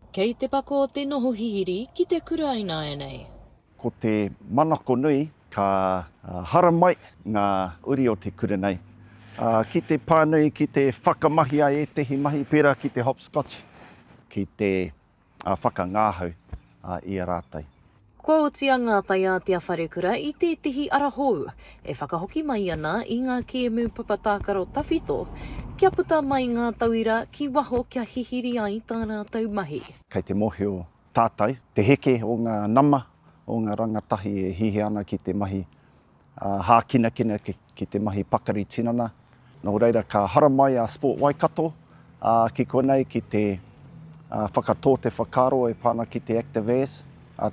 Kei te pako te noho hihiri ki te kura ināianei. Ko te manako nui ka haramai ngā uri o te kura nei ki te pānui, ki te whakamahia ētehi mahi pērā ki te hopscotch ki te whakangāhau i a rātou. Kua oti a Ngā Taiātea Wharekura i tētehi ara hou e whakahoki mai ana i ngā kēmu papa tākaro tawhito kia puta mai ngā tauira ki waho kia hihiri ai tā rātou mahi. Kei te mōhio tātou te heke o ngā nama o ngā rangatahi e hiahia ana ki te mahi hākinakina ki te mahi pakari tinana, nō reira ka haramai a Sport Waikato ki konei ki te whakatō te whakaaro e pā ana ki te Active-As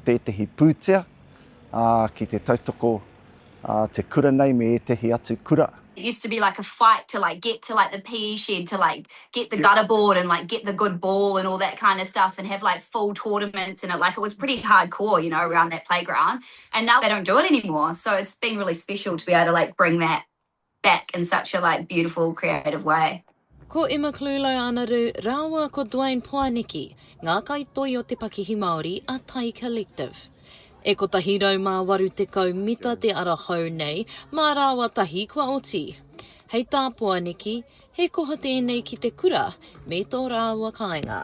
tētehi pūtea ki te tautoko te kura nei me ētehi atu kura. It used to be like a fight to like get to like the PE shed to like get the gutter board and like get the good ball and all that kind of stuff and have like full tournaments and it like it was pretty hardcore you know around that playground And now they don't do it anymore, so it's been really special to be able to like bring that back in such a like beautiful creative way. Ko Emma Klulo-Anaru rāua ko Duane Poaniki ngā kaitoi o te pakihi Māori a Tai Collective. E 180 mita te ara hou nei, mā rāua tahi kua oti. Hei tā Poaniki, he koha tēnei ki te kura me tō rāua kāinga.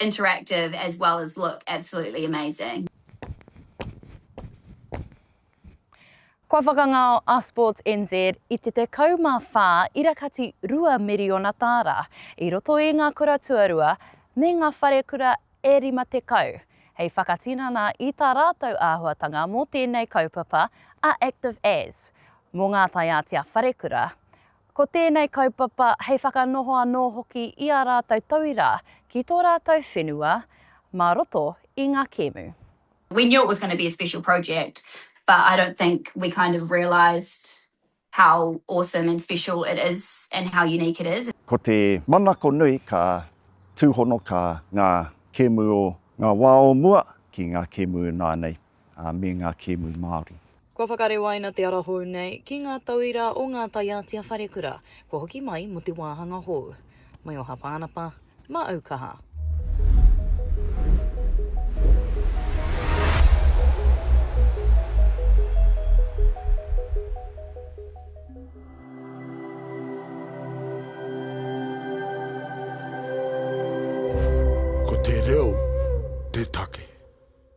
interactive as well as look absolutely amazing. Kua whakangao a Sports NZ i te 14 irakati rua miriona tāra i roto i ngā kura tuarua me ngā wharekura e 50, hei whakatinana i tā rātou āhuatanga mō tēnei kaupapa a Active As, mō ngā taiātea wharekura, Ko tēnei kaupapa hei whakanoho anō hoki i ā rātou tauira ki tō rātou whenua mā roto i ngā kēmu. We knew it was going to be a special project but I don't think we kind of realised how awesome and special it is and how unique it is. Ko te manako nui ka tūhonoka ngā kēmu o ngā wā o mua ki ngā kēmu ināianei. ā, me ngā kēmu Māori. Kua whakarewaina te ara hou nei ki ngā tauira o ngā taiātea wharekura kua hoki mai mō te wāhanga hou. Mai o Hapānapa, mā Aukaha. Ko te reo te take.